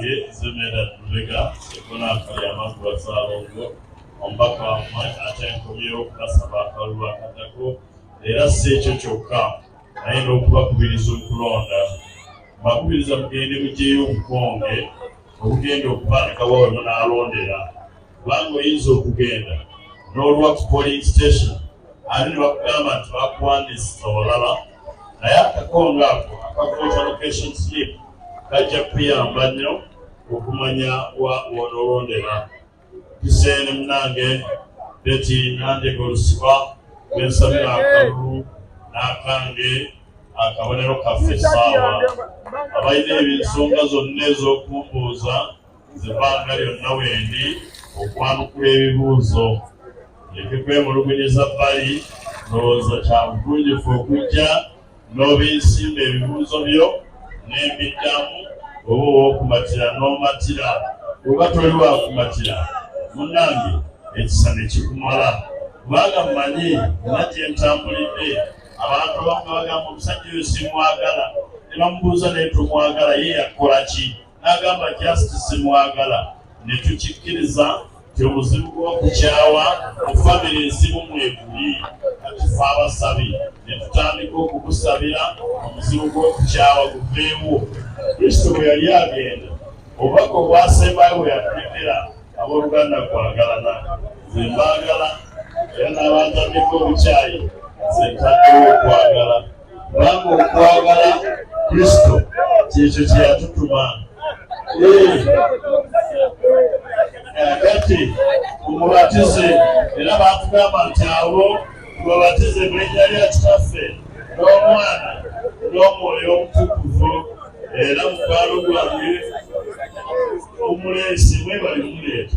ye zemera lubega ekonaka yamakuba salongo omubaka wamwe ate nkomyewo okubasaba akalulu akatako era si ekyo kyokka naye n'okubakubiriza okulonda bakubiriza mugende mugyeyo obukonge obugenda okuba nga wawe munaalondera kubanga oyinza okugenda n'olwa ku polling station ani ne bakugamba nti bakuwandiisiza olaba naye akakonga ako akavoter location slip kajja kuyamba nnyo okumanya wa wonoolondera kiseene munange beti nandega olusibwa lwensabira akalulu n'akange akabonero kaffe essaawa abalina ebinsonga zonna ez'okumbuuza nze banga lyonna wendi okwanukula ebibuuzo leke kwemulugunyiza bbali ndowooza kya bugunjufu okujja n'obinsimba ebibuuzo byo n'embiddamu oba owokumatira n'omatira oba toli wakumatira munange ekisa ne kikumala kubanga mmanyi nga gye ntambulidde abantu bamu bagamba omusajja oyo simwagala ne bamubuuza naye tumwagala ye yakukola ki n'agamba just simwagala ne tukikkiriza nti omuzimu gw'okukyawa mu famire ezimu mweguli kati fe abasabi ne tutandika okukusabira omuzimu gw'okukyawa guveewo kristo bwe yali agenda obubaka obwasembayo bwe yatuletera abooluganda kwagalana ze mbaagala era n'abantamika obukyayi ze ntaddewo okwagala kubanga okwagala kristo kyekyo kyeyatutuma kati omubatize era batugamba nti abo mubabatize mulinnya lya kitaffe n'omwana n'omwoyo omutukuvu era mukwalo gwange omulensi mwebali mumuleeta